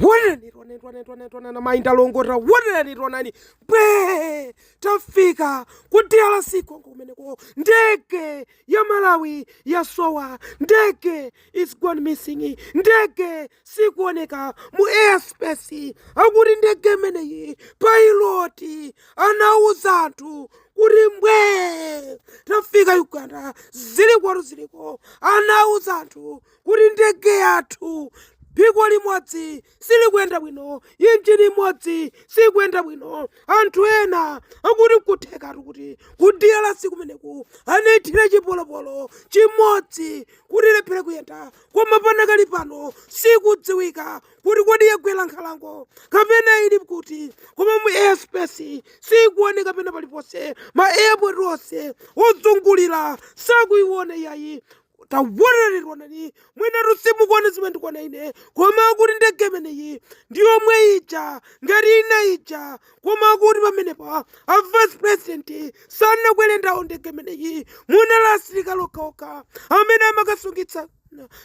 wonani tonani tonani tonani tonani mayi ndalongota wonani tonani mbwe tafika ku drc congo kumeneko ndege ya malawi yasowa ndege is gone missing ndege sikuoneka mu airspace akuti ndege imeneyi pailoti anauza anthu kuti mbwe tafika uganda ziliko zilikotu ziliko anauza anthu kuti ndege yathu phiko limodzi silikuyenda bwino injini imodzi sikuyenda bwino anthu ena akuti nkuthekatu kuti ku drc kumeneku anaithira chipolopolo chimodzi kuti ilephere kuyenda koma panakali pano sikudziwika kuti kodi yagwera nkhalango kapena ili kuti koma mu airspace sikuoneka pena paliponse ma airport onse ozungulira sakuiona iyayi tawonereronani mwinatu simukuona zimene ndikuona ine koma akuti ndege imeneyi ndi yomwe ija ngati ina ija koma akuti pamenepa a vice president sanakwere nawo ndege imeneyi munali asilikali okhaokha amene amakasungitsa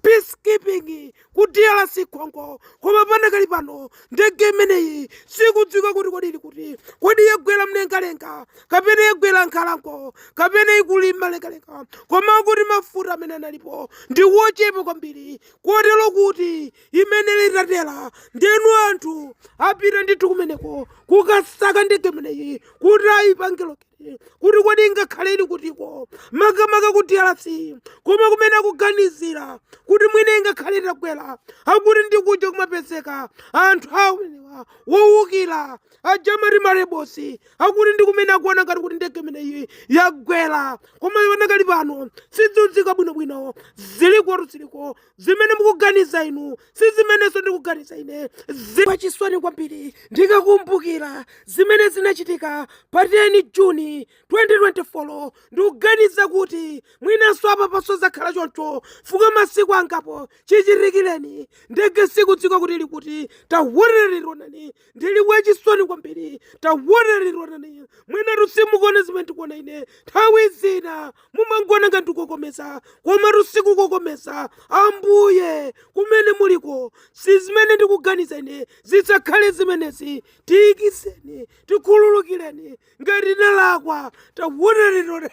peacekeeping ku drc congo koma panakali pano ndege imeneyi sikudziwika kuti kodi ili kuti kodi yagwera mlengalenga kapena yagwera nkhalango kapena ikali mlengalenga koma kuti mafuta amene analipo ndi wochepa kwambiri kotero kuti imayenera itatera ndeno anthu apita ndithu kumeneko kukasaka ndege imeneyi kuti ayipange locate kuti kodi ingakhale ili kutiko makamaka ku drc koma kumene akuganizira kuti mwina ingakhale itagwera akuti ndi kuja kumapezeka anthu amenewa wowukira aja amati ma rebels akuti ndi kumene akuona ngati kuti ndege imeneyi yagwera koma panakali pano sidziwika bwinobwino zilikotu ziliko Zimene mukuganiza inu si zimenenso ndikuganiza ine. Zachisoni kwambiri ndikakumbukira zimene zinachitika pa 10 June, 2024. Ndikuganiza kuti mwinanso apapanso zakhala choncho chifukwa masiku angapo chichitikireni, ndege sikudziwika kuti ili kuti. Tawonereronani! ndili wachisoni kwambiri tawonereronani mwinatu simukuona zimene ndikuona ine nthawi zina mumangoona ngati ndikokomeza komatu sikukokomeza ambuye kumene muliko si zimene ndikuganiza ine zisakhale zimenezi tiyikiseni tikhululukireni ngati ndalakwa tawonereronani